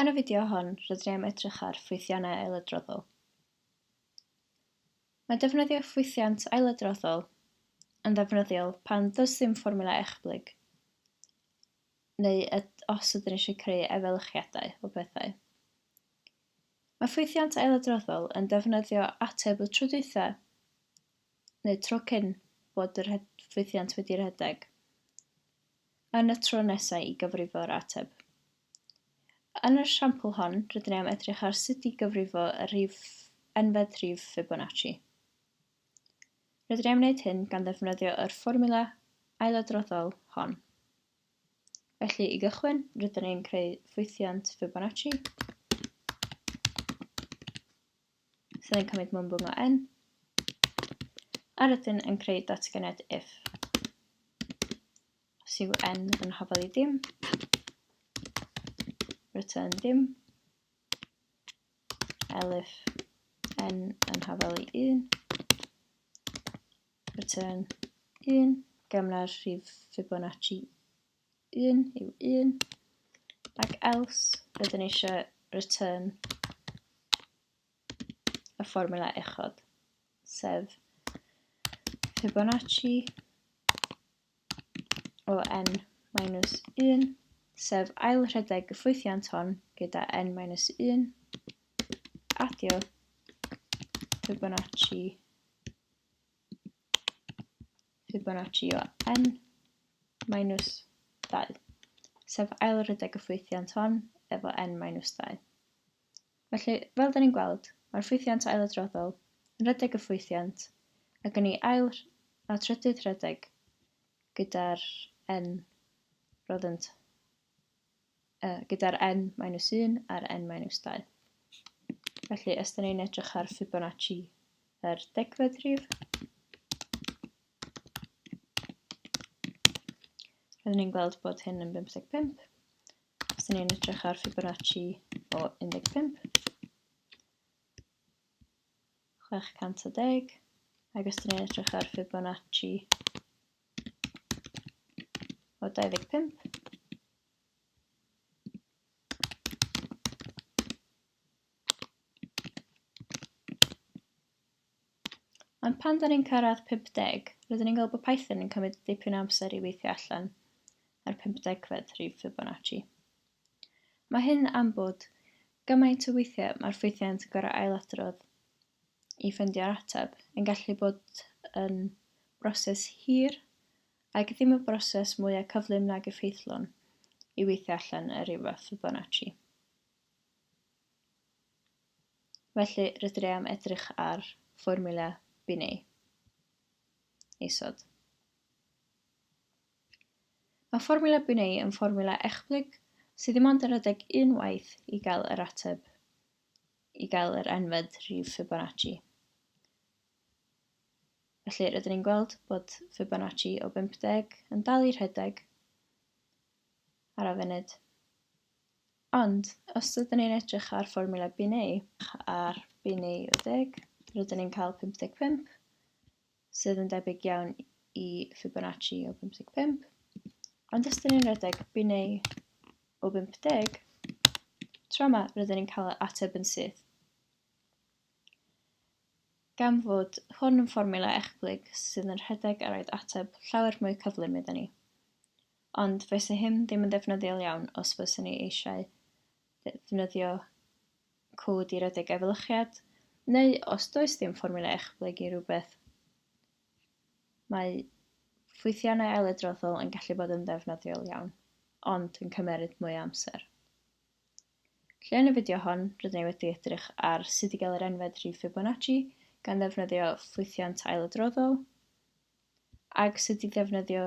Yn y fideo hon, rydyn ni am edrych ar ffwythiannau ailadroddol. Mae defnyddio ffwythiant ailadroddol yn ddefnyddiol pan does ddim fformula echblyg, neu os ydyn ni eisiau creu efelychiadau o bethau. Mae ffwythiant ailadroddol yn defnyddio ateb y trydythau neu'r tro cyn bod yr ffwythiant wedi rhedeg, yn y tro nesaf i gyfrifo yr ateb. Yn yr esiampl hon, rydyn ni am edrych ar sut i gyfrifo y rhif enfed rhif Fibonacci. Rydyn ni am wneud hyn gan ddefnyddio yr fformula ailadroddol hon. Felly, i gychwyn, rydyn ni'n creu ffwythiant Fibonacci. sydd yn cymryd mwmbwng o n a rydyn yn creu datganiad if. Os yw n yn hafal i ddim, return ddim, elif n yn hafal i 1, return 1, gamna'r rhif Fibonacci 1 yw 1, ac else rydyn ni eisiau return y fformula uchod, sef Fibonacci o n minus 1, sef ail rhedeg y ffwythiant hon gyda n minus 1, adio Fibonacci Fibonacci o n minus 2, sef ail rhedeg y ffwythiant hon efo n minus 2. Felly, fel da ni'n gweld, mae'r ffwythiant ailadroddol yn rhedeg y ffwythiant ac yn ei ail a trydydd rhedeg gyda'r n roddent uh, gyda'r n minus 1 a'r n minus 2. Felly, os da ni'n edrych ar Fibonacci yr degfed rhif, rydyn ni'n gweld bod hyn yn 55. Os da ni'n edrych ar Fibonacci o 15, 610, ac os da ni'n edrych ar Fibonacci o 25, Ond pan da ni'n cyrraedd 50, rydyn ni'n gweld bod Python yn cymryd dipyn amser i weithio allan ar 50fed rhif Fibonacci. Mae hyn am bod gymaint o weithiau mae'r ffwythiant yn gorau ailadrodd i ffyndio'r ateb yn gallu bod yn broses hir Ac ddim y broses mwya cyflym nag effeithlon i weithio allan yr Uwch Fibonacci. Felly, rydyn ni am edrych ar fformula Binet. Isod. Mae fformula Binet yn fformula echblyg sydd ddim ond yn rhedeg unwaith i gael yr ateb, i gael yr enfed rif Fibonacci. Felly, rydyn ni'n gweld bod Fibonacci o 50 yn dal i rhedeg ar y funud. Ond, os ydyn ni'n edrych ar fformula BNA, ar BNA 10, rydyn ni'n cael 55, sydd yn debyg iawn i Fibonacci o 55. Ond os ydyn ni'n rhedeg BNA o 50, tro yma rydyn ni'n cael ateb yn syth. Gan fod hwn yn fformiwla ecblyg sydd yn rhedeg ar roed ateb llawer mwy cyflym iddyn ni. Ond fysa hyn ddim yn ddefnyddiol iawn os fyswn ni eisiau ddefnyddio cod i redeg efelychiad, neu os does dim fformiwla ecblyg i rhywbeth. Mae ffwythiannau ailadroddol yn gallu bod yn ddefnyddiol iawn, ond yn cymeryd mwy o amser. Llun y fideo hon, rydyn ni wedi edrych ar sut i gael yr enfed rhif Fibonacci gan ddefnyddio ffwythiant ailadroddol, ac sut i ddefnyddio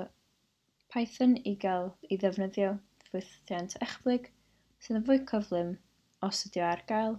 Python i gael i ddefnyddio ffwythiant echblyg sydd yn fwy cyflym os ydy o ar gael.